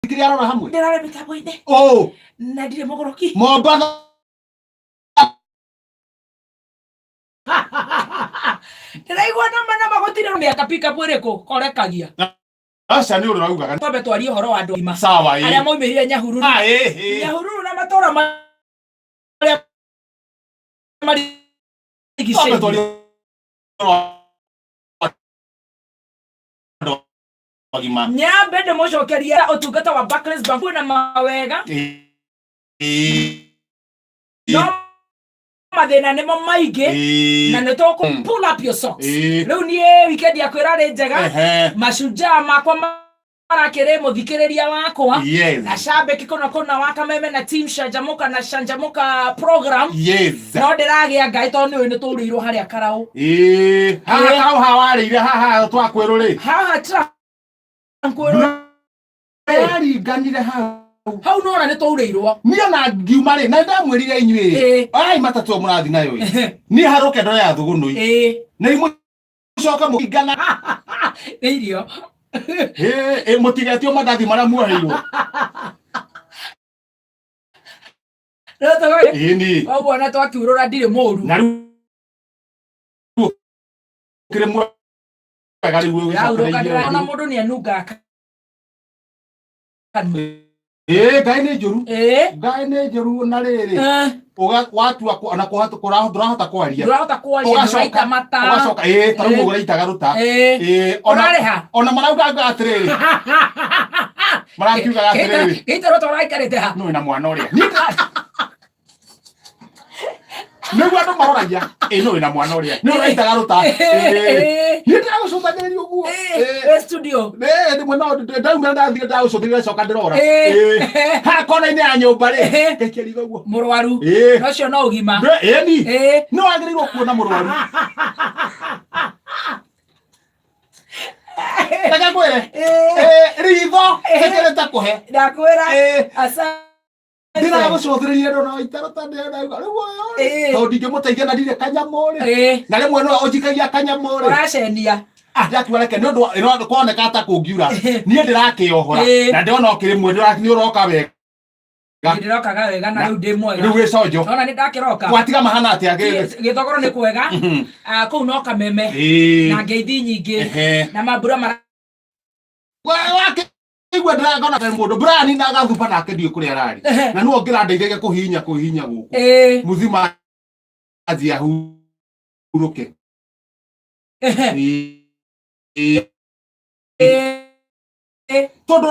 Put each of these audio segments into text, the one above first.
ndirĩ arora hamwe ndĩrore mĩtambo-inĩ oh na ndirĩ mũgũrũki mombatha ndĩraigua nama nama gũtirĩ nĩ akapika bwĩrĩkũ korekagia aca nĩ ũrĩa ũraugaga twambe twarie ũhoro wa andũ agima sawa arĩa ĩ maumĩrire nyahururu Ah, ĩ, ĩ. nyahururu na matũra ma- marĩa Twambe marigicĩirie twarie ũhoro wa andũ ũgima. Nyambe ndĩmũcokerie ũtungata wa Barclays Bank kwĩna mawega no mathĩna nĩmo maingĩ na nĩ tũkũ Mm. pull up your socks Ĩĩ. rĩu niĩ wikendi yakwa ĩrarĩ njega Ehe. macunjaa makwa ma- marakĩrĩ mũthikĩrĩria wakwa Yes. na shambeki kũna kũna wakameme na team shanjamuka na shanjamuka program Yes. no ndĩragĩa ngaĩ tondũ nĩũĩ nĩ tũrĩirwo harĩa karaũ Ĩĩ, haha Ĩĩ. karaũ hawarĩire haha twakwerũ rĩ haha tira nkwĩrwo waringanire hau hau nona nĩ twaurĩirwo niĩ na ngiuma rĩ na ndamwĩrire inyuĩ Ĩĩ. ai matatũ ĩyo mũrathiĩ nayo ĩ niĩ harũke ndore ya thũgũnũi ĩĩ na imũcoka mũkingana nĩ irio Ĩĩ, ĩĩ, mũtigetio mandathi marĩa muoheirwo No togo ini koguo na twakiurũra ndirĩ mũru na riu kire mwega riu yaurũkanĩra ona mũndũ nĩ anungaga kanua eh ngai nĩ njũru Eh, ngai nĩ njũru na rĩrĩ eh, Uga- watua kũ- ona kũhatu- kũra- ndũrahota kwaria ndũrahota kwaria Ũgacoka- ndũraita mata ũgacoka ĩĩ tarĩu Eh. ũgũraitaga rũta Eh, Ĩĩ, ona- ũrarĩha ona marauga nga atĩrĩrĩ marakiugaga atĩrĩrĩ gĩitaro twaraikarĩte ha nũĩ na mwana ũrĩa nĩguo andũ maroragia ĩ nũĩ na mwana ũrĩa nĩ ũraitaga rũta nĩ ndagũcũthagĩrĩria ũguo studio ndimwe no ndaumĩra ndathire ndagũcũthĩrĩria coka ndĩrora ha kona-inĩ ya nyũmba rĩ gaikia riga ũguo mũrwaru ũcio no ũgima ĩni nĩ wagĩrĩirwo kuona mũrwaru reke ngwĩre eh, ritho ĩkĩrĩ ta kũhe ndakwĩra eh. ndĩragũcũthĩrĩria ndona waitara ta ndĩrauga rĩu ũyũ eh. tondũ ndingĩmũteithia na ndirĩ kanyamũ rĩ na rĩmwe no ũnjikagia kanyamũ rĩ ũracenia ndatua reke nä å ndå kwoneka ta kå ngiura niä ndä rakä ohora na ndä ona å kä rä mwe nä å roka wega Ga- ndĩrokaga wega na Na- rĩu ndĩ mwega rĩu gĩconjo ona nĩ ndakĩroka gwatiga mahana atĩ agĩthĩ Gĩ- gĩthogoro nĩ kwega Ah, kũu no kameme na ngeithi nyingĩ Ehe. na mambura mara wake igua ndĩragona kaĩ mũndũ brani na agathuba nake ndiũ kũrĩa ararĩ Ehe. na nĩwe ũngĩrandeithagia kũhihinya kũhihinya gũkũ Ĩĩ, muthima anjia hurũke ehe, Ĩĩ. ĩĩ, ĩĩ. tondũ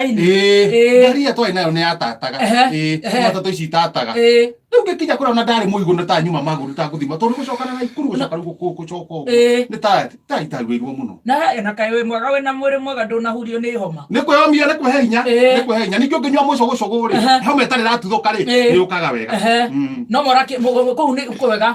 Ĩĩ. ĩrĩa twarĩ nayo nĩ yatataga Ehe, Ĩĩ, ehe. nĩ matatũ ici itataga Ĩĩ, rĩu ngĩkinya kũrĩa ona ndarĩ mũigũ nĩ ta nyuma magũrũ itangũthima tondũ gũcokana na ikuru gũcoka rĩu gũkũ- gũcoka ũguo ĩĩ. nĩ ta ta itarwĩirwo mũno na na kaĩ wĩ mwega wĩna mwĩrĩ mwega ndũnahurio nĩ homa nä kwä omia nä kwä hinya Ĩĩ. nä kwä hinya ningä å ngä nyua må cå gå cå gå Ehe. rä homa ä tarä ratuthå ka rä Ĩĩ. nä å kaga wega Ehe. Mm. no mora kå u nä kwega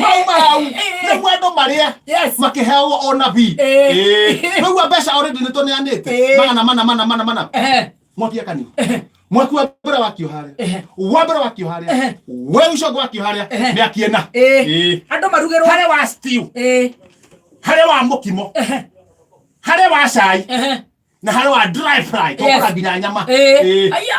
mau mau nĩguo andũ marĩe makĩheagwo o nabii nĩguo mbeca already nĩ tũneanĩte magana mana mana mana mana mwaki akani mwaki wa mbere wakio harĩa wa mbere wakio harĩa we ũcogo wakio harĩa nĩ akiena andũ marugĩrwo harĩa wa stew harĩa wa mũkimo harĩa wa cai na harĩa wa dry fry tũkũrambira nyama aya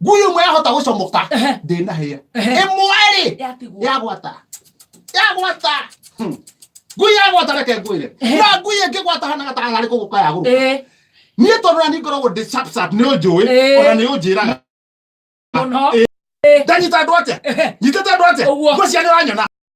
guyu mwe ahota gucomoka ndina hia imweri ya gwata ya gwata hmm. ngui ya gwata reke ngwire na ngui ĩngĩ gwata hana gataga harĩ kũgũka ya gũka niĩ tondũ na niĩ ngoragwo ndĩ sharp sharp nĩ ũnjũĩ ona nĩ ũnjĩraga ndanyita andũ atĩa nyitĩte andũ atĩa ngũcia nĩ ũranyona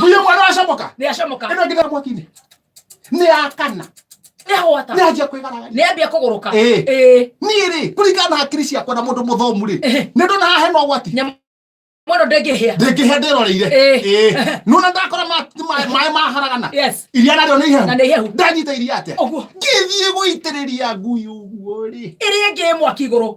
buye mwana ashamoka ne ashamoka eno ngira mwakine ne akana ne hota ne ajia kwigara ne abia kuguruka eh eh niri kulingana na hakiri ciakwa na mundu muthomu ri eh. ne ndona hahe no gwati mwana ndengihia ndengihia ndiroreire eh. eh. nuna ndakora maĩ maharagana iria narĩo nĩ ihehu na nĩ ihehu ndanyita iria atĩa ũguo ngĩthiĩ gũitĩrĩria ngui ũguo rĩ ĩrĩa ĩngĩ mwaki igũrũ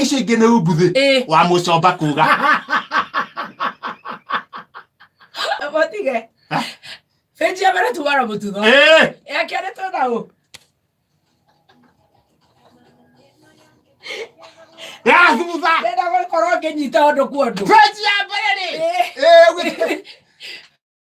icio ingä nä umbuthä Eh. wa må comba kå ga Botige. Benji ya mbere tuwara mũtutho. Ya kerĩ twĩna ũ? ya thutha Ndĩrenda gũkorwo ngĩnyita ũndũ kwa ũndũ. benji ya mbere rä Eh.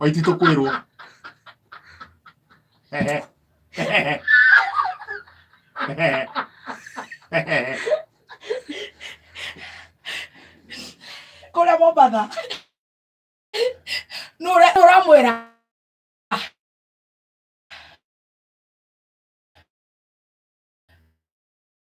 Waitito kwirwo. Ehe. Ehe. Ehe. Ehe. Kũrĩa Mombatha. Nũ ũra- nũ ũramwĩra.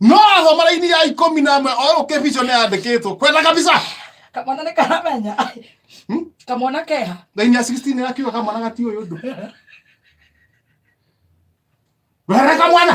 no athoma raini ya ikũmi na ĩmwe oĩ ũkĩ vision yandĩkĩtwo kwenda kabisa kamwana nĩ karamenya Hmm? kamwana keha raini ya 16 ĩrakiuga kamwana gati ũyũ ũndũ werere kamwana